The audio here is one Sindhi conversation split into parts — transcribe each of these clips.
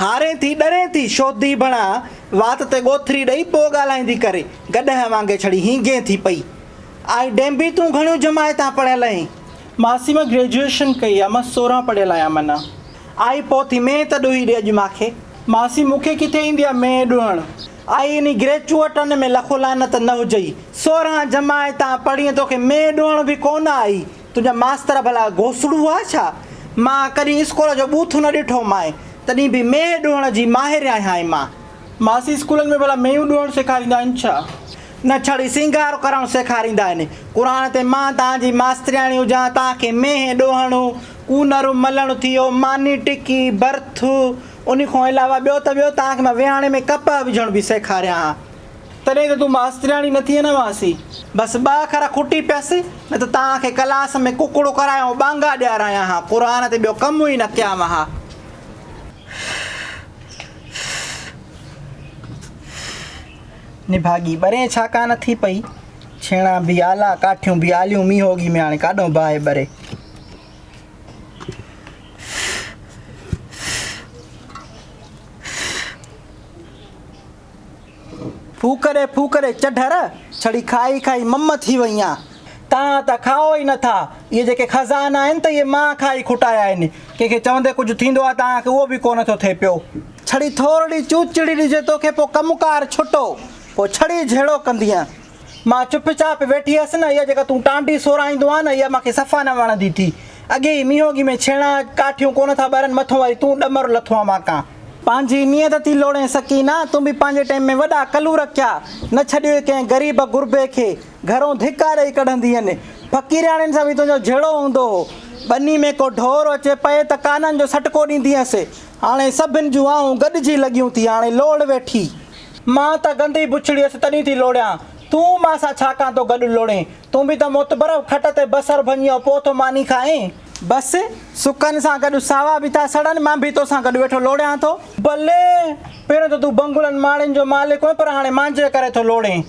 هارين ٿي ڏرين ٿي شوڌي بڻا وات تي ڳوٿري ڏئي پوء ڳالهائيندي ڪري گڏهه وانگي ڇڙي هينگين ٿي پئي آهي ڊينبي تون گهڻيون جماعتان پڙهيل اهين. ماسي مان گريجوئيشن ڪئي آهي مان سورهن پڙهيل آهيان من آئي پوء ٿي مين ته ڏوهي ڏي اڄ مان کي. ماسي مون کي ڪٿي ايندي آهي مين ڏوهڻ آئي انهي گريچوئٽن ۾ لکو لعنت نه هجئي سورهن جماعتان پڙهين توکي مين ڏوهڻ به ڪونه آئي. تنهنجا ماستر ڀلا گوسڙو هئا ڇا؟ مان ڪڏهن اسڪول جو ٻوٿ نه ڏٺو مانء، تڏهن به مينهن ڏوهڻ جي ماهر آهيانء مان. ماسي اسڪولن ۾ ڀلا مينهون ڏوهڻ سيکاريندا آهن ڇا؟ نه ڇڙي سينگار ڪرڻ سيکاريندا آهن. قرآن تي مان توهان جي ماسترياڻي هجان، توهان کي مينهن ڏوهڻ، ڪونر ملڻ ٿيو، ماني ٽڪي، برٿ، انهي کان علاوه ٻيو ته ٻيو توهان کي مان ويهاڻي ۾ ڪپهه وجهڻ به سيکاريان ها. تڏهن ته تون ماسترياڻي نه ٿئين هئاسين. بس ٻه اکر کوٽي پيس نه ته توهان کي ڪلاس ۾ ڪڪڙو ڪرايان ٻانگا ڏياريان ها. قرآن تي ٻيو ڪم ئي نه ڪيام ها. نڀاڳي ٻرين ڇا ڪا نه ٿي پئي. ڇيڻا به آلا، ڪاٺيون به آليون مينهوڳي ۾ هاڻي ڪاڏهون باهه ٻري. ڦوڪري ڦوڪري چڍر ڇڙي کائي کائي مم ٿي وئي آن. توهان ته کائو ئي نٿا. اهي جيڪي خزانا آهن ته اهي مان کائي کوٽايا آهن. ڪنهن کي چوندي ڪجهه ٿيندو آهي ته اوهان کي اهو به ڪو نه ٿو ٿئي پيو. ڇڙي ٿورڙي چوچڙي ڏجي توکي پوء ڪم ڪار ڇٽو پوء ڇڙي جهيڙو ڪندينء. مان چپ چاپ ويٺي هيس نه اها جيڪا تون ٽانڊي سورائيندو آهين نه اها مان کي صفا نه وڻندي ٿي. اڳي ئي مينهونگي ۾ ڇيڻا ڪاٺيون ڪونه ٿا ٻرن مٿون وري تون ڏمر لٿو آهين ماڪان. پنهنجي نيت ٿي لوڙين سڪينه تون به پنهنجي ٽيم ۾ وڏا ڪلور ڪيا نه ڇڏيوئي ڪنهن غريب غربي کي گهرون ڌڪا ڏئي ڪڍندينء فقيرياڻين سان به تنهنجو جهيڙو هوندو هو ٻني ۾ ڪو ڍور اچي پئي ته ڪانن جو سٽڪو ڏيندينء سي هاڻي سڀن جون آهون گڏجي لڳيون ٿي هاڻي لوڙ ويٺي مان ته گندي بڇڙي هيس تڏهن ٿي لوڙهيان. تون مان سان ڇا ڪان ٿو گڏ لوڙهين. تون به ته متبرب کٽ تي بصر ڀڃيو پوء ٿو ماني کائين. بس، سڪن سان گڏ ساوا به ٿا سڙن، مان به توسان گڏ ويٺو لوڙهيان ٿو. بلي! پهريون ته تون بنگلن ماڙين جو مالڪ هئين پر هاڻي مانجهي ڪري ٿو لوڙهين.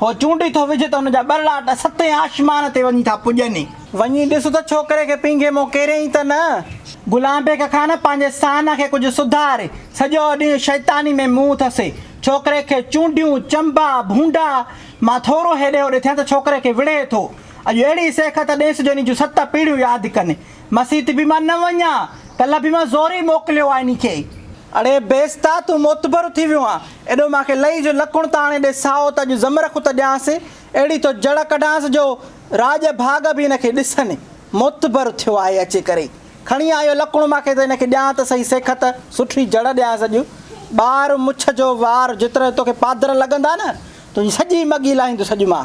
هو چونڊي ٿو وجهي ته هن جا ٻرڙاٽ ستين آشمان تي وڃي ٿا پڄن. وڃي ڏس ته ڇوڪري کي پينگهي مون ڪيريائين ته نه. غلام بيگ خان پنهنجي سانح کي ڪجهه سڌار، سڄو ڏينهن شيطاني ۾ منهن اٿس. ڇوڪري کي چونڊيون، چنبا، ڀونڊا مان ٿورو هيڏي هوڏي ٿيڻ ته ڇوڪري کي وڙهي ٿو. اڄ اهڙي سيخ ته ڏيس جوني جون ست پيڙهيون ياد ڪن. مسيت به مان نه وڃان، ڪلهه به مان زوري موڪليو آهي انهي کي. اڙي بيستا تون معتبر ٿي ويو آن ايڏو مان کي لئي جو لڪڻ ته آڻي ڏي سائو ته اڄ زمرخ ته ڏيانس اهڙي ٿو جڙ ڪڍانس جو راڄ ڀاڳ به ان کي ڏسن معتبر ٿيو آهي اچي ڪري کڻي آيو لڪڻ مان کي ته ان کي ڏيان ته سهي سيکت سٺي جڙ ڏيانس اڄ ٻار مڇ جو وار جيترا توکي پادر لڳندا نه تنهنجي سڄي مڳي لاهيندس اڄ مان.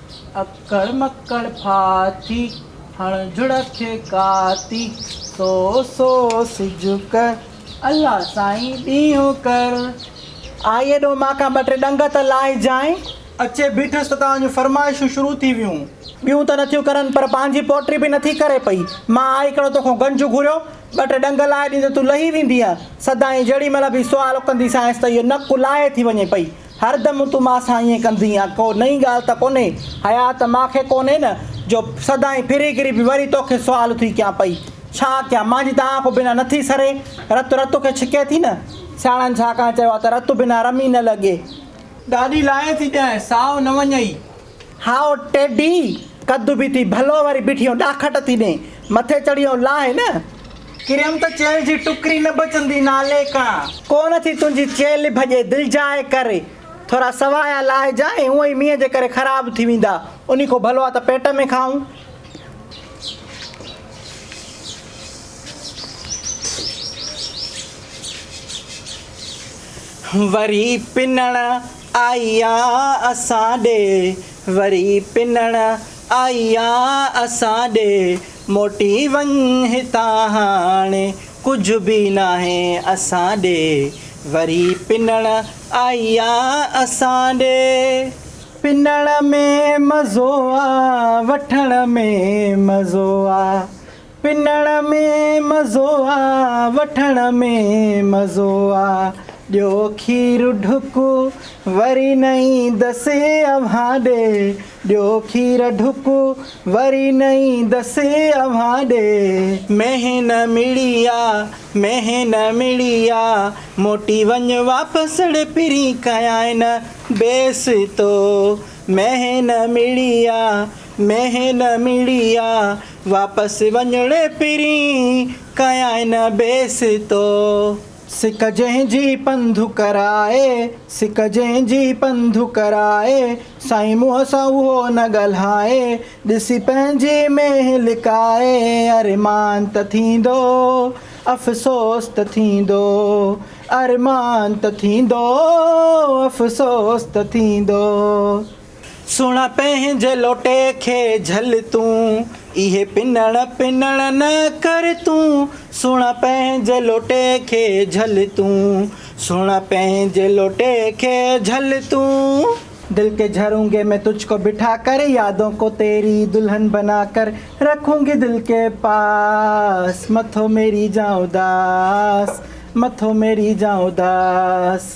اڪڙ مڪڙ ڦاٿي، هڻ جڙڪ ڪاتي، سو سو سج ڪر، الله سائين ڏينهن ڪر. آء ايڏو مان کان ٻه ٽي ڏنگ ته لاهي جانء. اچي بيٺس ته توهان جون فرمائشون شروع ٿي ويون. ٻيون ته نٿيون ڪرن پر پنهنجي پوٽي به نٿي ڪري پئي. مان آء ڪهڙو توکان گنج گهريو، ٻه ٽي ڏنگ لاهي ڏيندين ته تون لهي ويندينء. سدائين جيڏي مهل به سوال ڪنديسانئس ته اهو نڪ لاهي ٿي وڃي پئي. هر دم تون مان سان ائين ڪندين آ ڪو نئين ڳالهه ته ڪونهي حيا ته مان کي ڪونهي نه جو سدائين ڦري گهري به وري تو کي سوال ٿي ڪيان پئي ڇا ڪيان مانجي ته آنکون بنا نه ٿي سري رت رت کي ڇڪي ٿي نه سياڻن ڇاڪاڻ چيو آ ته رت بنا رمي نه لڳي. ڏاڏي لاهي ٿي ڏيانء سائو نه وڃئي. هائو ٽيڊي! قد به ٿي ڀلو وري بٺيون ڏاکٽ ٿي ڏين. مٿي چڙهي او لاهه نه. ڪريم ته چيلهه جي ٽڪري نه بچندي نالي کان. ڪو نه ٿي تنهنجي چيلهه ڀڄي دلجاء ڪر. ٿورا سوايا لاهجا ۽ هونئن ئي مينهن جي ڪري خراب ٿي ويندا. انهي کان ڀلو آ ته پيٽ ۾ کائون. وري پنڻ آئيا اسان ڏي وري پنڻ آئيا اسان ڏي موٽي وڃ هتان هاڻ ڪجهه به ناهي اسان ڏي وري پنڻ آئيا اسان ڏي. پنڻ ۾ مزو آ وٺڻ ۾ مزو آ. پنڻ ۾ مزو آ وٺڻ ۾ مزو آ ڏيو کير ڍڪ وري نه ايندس اوهان ڏي ڏيو کير ڍڪ وري نه ايندس اوهان ڏي. مينهن نه مڙي آ مينهن نه مڙي آ موٽي وڃ واپس ڙي پرين ڪيائين نه بيس تو مينهن نه مڙي آ مينهن نه مڙي آ. واپس وڃڻ پھرين ڪيائين نه بيستو. سڪ جنهن جي پنڌ ڪرائي، سڪ جنهن جي پنڌ ڪرائي، سائين منهن سان اهو نه ڳالهائي، ڏسي پنهنجي مينهن لڪائي، ارمان ته ٿيندو، افسوس ته ٿيندو، ارمان ته ٿيندو، افسوس ته ٿيندو. سڻ پنهنجي لوٽي کي جهل تون، اهي پنڻ پنڻ نه ڪر تون. سڻ پنهنجي لوٽي کي جهل تون، سڻ پنهنجي لوٽي کي جهل تون. دل ڪي جهرونگي مين تجھ ڪو بٺا ڪر، يادون ڪو تيري دلهن بنا ڪر. رکونگي دل ڪي پاس، مٿو ميري جان اداس، مٿو ميري جان اداس.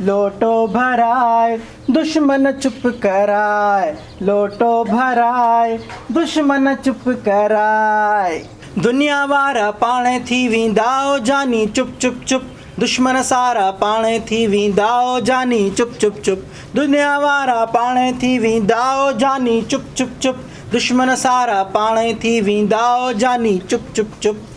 لوٽو ڀرائي دشمن چپ ڪرائي لوٽو ڀرائي دشمن چپ ڪرائي. دنيا وارا پاڻ ٿي ويندا او جاني چپ چپ چپ دشمن سارا پاڻ ٿي ويندا او جاني چپ چپ چپ دنيا وارا پاڻ ٿي ويندا او جاني چپ چپ چپ دشمن سارا پاڻ ٿي ويندا او جاني چپ چپ چپ.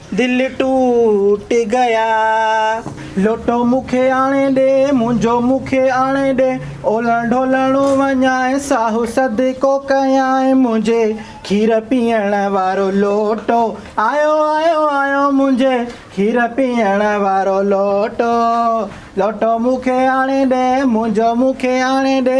دل ٽوٽ گيا لوٽو مون کي آڻي ڏي منهنجو مون کي آڻي ڏي اولهه ڍولهڻو وڃانء ساهو صدقو ڪيانء منهنجي کير پيئڻ وارو لوٽو آيو آيو آيو منهنجي کير پيئڻ وارو لوٽو لوٽو مون کي آڻي ڏي منهنجو مون کي آڻي ڏي.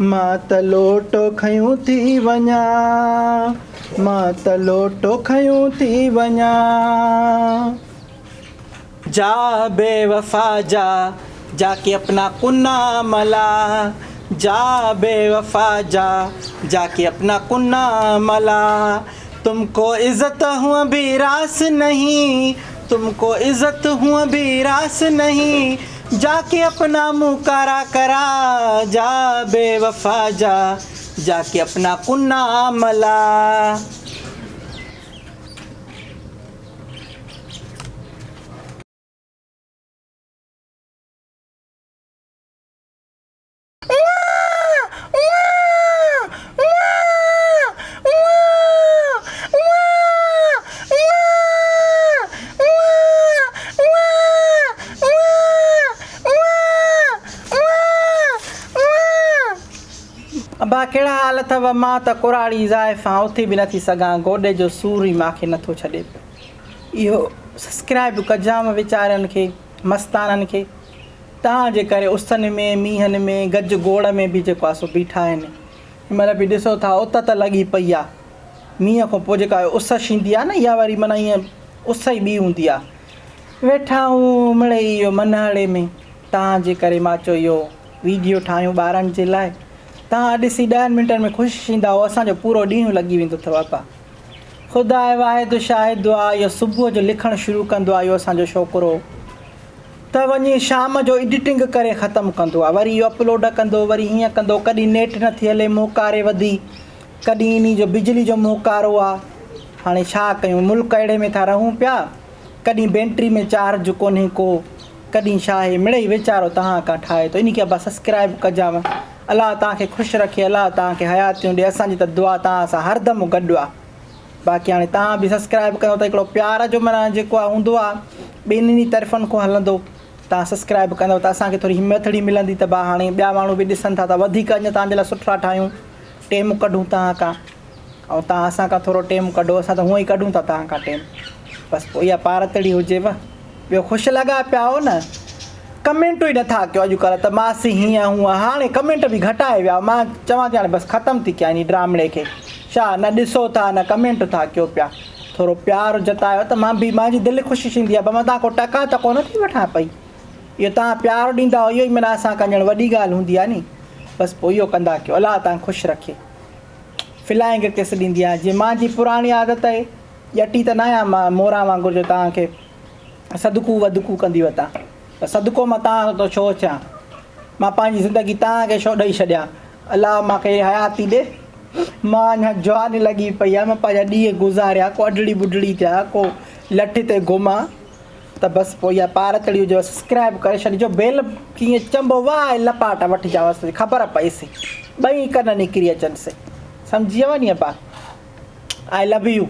مان ته لوٽو کنيون ٿي وڃان، مان ته لوٽو کنيون ٿي وڃان. جا بي وفا جا، جا ڪي اپنا ڪون نا ملا، جا بي وفا جا، جا ڪي اپنا ڪون نا ملا، تم ڪو عزت هون ڀي راس نهين، تم ڪو عزت هون ڀي راس نهين، جا ڪي اپنا منهن ڪارا ڪرا جا بي وفا جا جا ڪي اپنا ڪنا ملا. ابا ڪهڙا حال اٿئو؟ مان ته ڪراڙي زائي سان اٿي به نٿي سگهان گوڏي جو سور ئي مان کي نٿو ڇڏي پيو اهو سسڪرائب ڪجانء ويچارين کي. مستانن کي تان جي ڪري اسن ۾ مينهن ۾ گج گوڙ ۾ به جيڪو آهي سو بيٺا آهن هن مهل به ڏسو ٿا ات ته لڳي پئي آهي مينهن کان پوء جيڪا اس شيندي آهي نه اها واري معنيٰ ائين اس ئي ٻي هوندي آهي ويٺا آهون مڙئي اهو منهڙي ۾ تان جي ڪري مان چيو اهو ويڊيو ٺاهيون ٻارن جي لاء تان ڏسي ڏهن منٽن ۾ خوش ٿيندا اهو اسان جو پورو ڏينهن لڳي ويندو اٿو ابا خدا واحد شاهد دعا اهو صبح جو لکڻ شروع ڪندو آهي اهو اسان جو ڇوڪرو ته وڃي شام جو ايڊيٽنگ ڪري ختم ڪندو آهي وري اهو اپلوڊ ڪندو وري هيئن ڪندو ڪڏهن نيٽ نٿي هلي موڪاري وڌي ڪڏهن انهي جو بجلي جو موڪارو آهي هاڻي ڇا ڪيون ملڪ اهڙي ۾ ٿا رهون پيا ڪڏهن بينٽري ۾ چارج ڪونهي ڪو ڪڏهن ڇا هي مڙئي ويچارو تهان کان ٺاهي ٿو انهي کي ابا سسڪرائب ڪجانء الله توهان کي خوش رکي الله توهان کي حياتيون ڏي اسان جي ته دعا توهان سان هر دم گڏ آ باقي هاڻي توهان به سسڪرائب ڪيو ته هڪڙو پيار جو معنيٰ جيڪو آ هوندو آ ٻنهي طرفن کون هلندو توهان سسڪرائب ڪندو ته اسان کي ٿوري همٿڙي ملندي ته ڀا هاڻي ٻيا ماڻهو به ڏسن ٿا ته وڌيڪ اڃا توهان جي لاء سٺا ٺاهيون ٽيم ڪڍون توهان کان ۽ توهان اسان کان ٿورو ٽيم ڪڍو اسان ته هونئن ئي ڪڍون ٿا توهان کان ٽيم بس پوء اها پارتڙي هجيو ٻيو خوش لڳا پيا آهيو نه ڪمينٽون ئي نٿا ڪيو اڄڪلهه ته ماسي هيئن هونئن هاڻي ڪمينٽ به گهٽائي ويا مان چوان ٿي هاڻي بس ختم ٿي ڪيان هن ڊرامڙي کي ڇا نه ڏسو ٿا نه ڪمينٽ ٿا ڪيو پيا ٿورو پيار جتايو ته مان به مانجي دل خوش ٿيندي آهي مان توهان کان ٽڪا ته ڪونه ٿي وٺان پئي اهو توهان پيار ڏيندا اهو ئي منا اسان کان ڄڻ وڏي ڳالهه هوندي آهي ني بس پوء اهو ڪندا ڪيو الله توهان خوش رکي فلائنگ ڪس ڏيندي آهيان جيئن مان جي پراڻي عادت اهي ڄٽي ته ناهيان مان موران وانگر جو توهان کي صدقو وڌڪو ڪندي وتان ته صدقو مان توهان وٽ ڇو اچان مان پنهنجي زندگي توهان کي ڇو ڏئي ڇڏيان الله مان کي حياتي ڏي مان اڃا جواني لڳي پئي آهي مان پنهنجا ڏينهن گذاريا ڪو اڍڙي ٻڍڙي ٿيا ڪو لٺ تي گهمان ته بس پوء اها پار چڙهي هجيو سسڪرائب ڪري ڇڏجو بيل ڪيئن چنبو واه اي لپاٽ وٺ جا هوس تي خبر پئي سي ٻئي ڪن نڪري اچن سي سمجهي ويا ني ابا آئي لو يو.